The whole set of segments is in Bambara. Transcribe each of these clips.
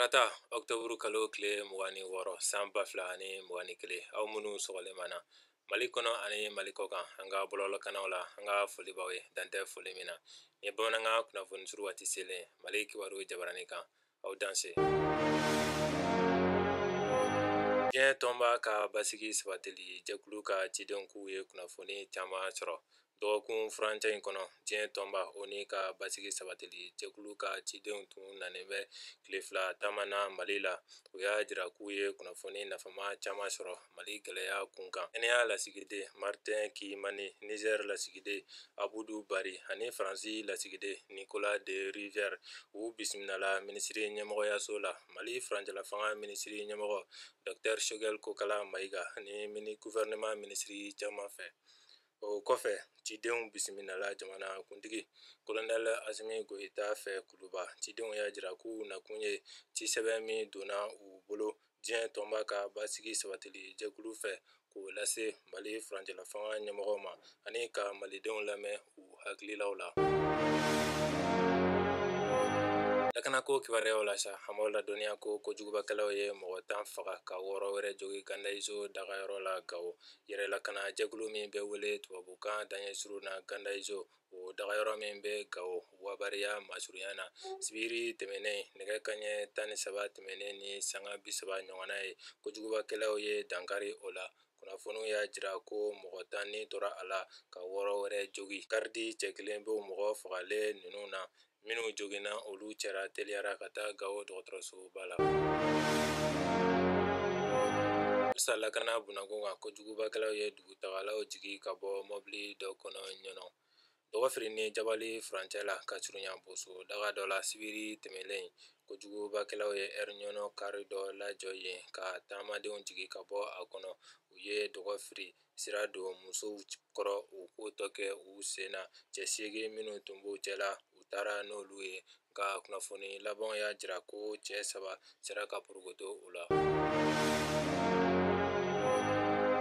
Tarata octobre kalo tile mugan ni wɔɔrɔ san ba fila ani mugan ni kelen aw minnu sɔgɔlen b'an na mali kɔnɔ ani mali kɔkan an ka bɔlɔlɔkannaw la an ka foli b'aw ye dan tɛ foli min na nin ye bamanankan kunnafoni suru waati selen mali kibaru jabarani kan aw danse diɲɛ tɔnba ka basigi sabatili jɛkulu ka cidenw k'u ye kunnafoni caman sɔrɔ dɔgɔkun furancɛ in kɔnɔ diɲɛ tɔnba ONU ka basigi sabatili jɛkulu ka cidenw tun nanen bɛ tile fila taama na mali la u y'a jira k'u ye kunnafoni nafama caman sɔrɔ Mali gɛlɛya kunkan kenya lasigiden martin kimani niger lasigiden abudu bari ani faransi lasigiden nicolas de rivière u bisimilala minisiri ɲɛmɔgɔyaso la mali furancɛlafanga minisiri ɲɛmɔgɔ dr shogɛl kokala mayiga ni guvɛrɛnɛman minisiri caman fɛ o kɔfɛ cidenw bisimilala jamana kuntigi kolonɛl asimi goyita fɛ kuluba cidenw y'a jira k'u nakun ye cisɛbɛn min donna u bolo diɲɛ tɔnba ka basigi sabatili jɛkulu fɛ k'o lase mali furancɛlafanga ɲɛmɔgɔw ma ani ka malidenw lamɛn u hakililaw la lakanako kibaruyaw la sa an b'aw ladɔnniya ko kojugubakɛlaw ye mɔgɔ tan faga ka wɔɔrɔ wɛrɛ jogin gandaizo dagayɔrɔ la gawo yɛrɛlakana jɛkulu min bɛ wele tubabukan daɲɛ suru na gandaizo O dagayɔrɔ min bɛ gawo wabariya masurunya na sibiri tɛmɛnen nɛgɛ kanɲɛ tan ni saba tɛmɛnen ni sanga bi saba ɲɔgɔnna ye kojugubakɛlaw ye dankari o la kunnafoniw y'a jira ko mɔgɔ tan ni tora a la ka wɔɔrɔ wɛrɛ jogin garidi cɛ kelen bɛ mɔgɔ fagalen ninnu na minnu joginna olu cɛra teliya la ka taa gawo dɔgɔtɔrɔsoba la halisa lakana bunakun kan kojugubakɛlaw ye dugutagalaw jigin ka bɔ mɔbili dɔ kɔnɔ ɲɔnɔ dɔgɔfiri ni jabali furancɛ la ka surunya boso daga dɔ la sibiri tɛmɛnlen kojugubakɛlaw ye ɛri ɲɔnɔ kari dɔ lajɔ yen ka taamadenw jigin ka bɔ a kɔnɔ u ye dɔgɔfiri sira don musow kɔrɔ u k'o tɔ kɛ u sen na cɛ seegin minnu tun b'u cɛ la u taara n'olu ye nka kunnafoni labanw y'a jira ko cɛ saba sera ka porokoto u la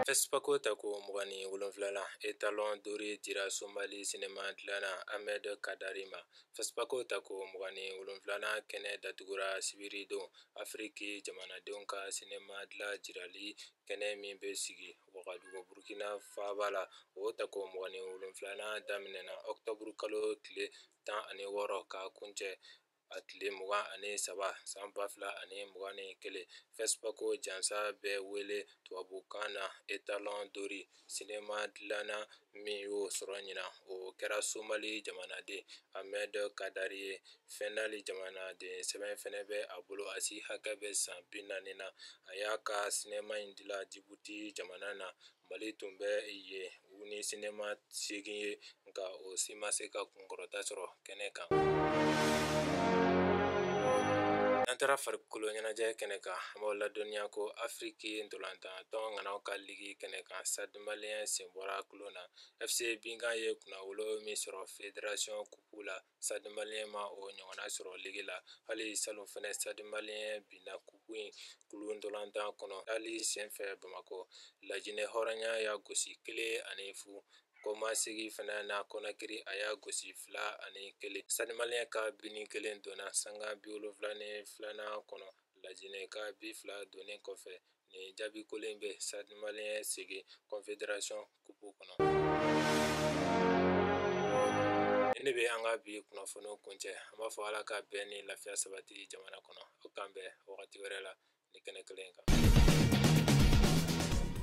Fespako tako mugan ni wolonwulanan etalon d'or dira somali sinema dilanna ahmed kadari ma Fespako tako mugan ni wolonwulanan kɛnɛ datugura sibiridon afiriki jamanadenw ka sinema dilan jirali kɛnɛ min bɛ sigi wagadugu Burukina faaba la, o tako 27 nan daminɛna octobre kalo tile 16 k'a kuncɛ a tile 23 san 2021, FESPACO jansa bɛ wele tubabukan na etalon d'or Sinama dilanna min y'o sɔrɔ ɲinan o kɛra somali jamanaden amɛdi kadari ye fɛndali jamanaden sɛbɛn fana bɛ a bolo a si hakɛ bɛ san bi naani na a y'a ka sinama in dilan jibuti jamana na mali tun bɛ yen u ni sinama segin ye nka o si ma se ka kunkɔrɔta sɔrɔ kɛnɛ kan n'an taara farikolo ɲɛnajɛ kɛnɛ kan an b'aw ladɔnniya ko afiriki ntolantan tɔn ŋanaw ka ligi kɛnɛ kan stade malien sen bɔra kulon na fc binga ye kunnawolo min sɔrɔ federasiyɔn kupu la stade malien ma o ɲɔgɔnna sɔrɔ ligi la hali salon fana stade malien binna kupu in kulu ntolantan kɔnɔ hali senfɛ bamakɔ lajinɛ hɔrɔya y'a gosi kelen ani fu kɔmasegin fana na konakiri a y'a gosi fila ani kelen stade malien ka bi nin kelen donna sanga bi wolonwula ni filanan kɔnɔ lajinɛ ka bi fila donnen kɔfɛ Nin jaabi kolon bɛ stade malien segin konfederasiyɔn kupu kɔnɔ ne bɛ an ka bi kunnafoni kuncɛ an b'a fɔ ala ka bɛn ni lafiya sabati jamana kɔnɔ aw k'an bɛn wagati wɛrɛ la nin kɛnɛ kelen kan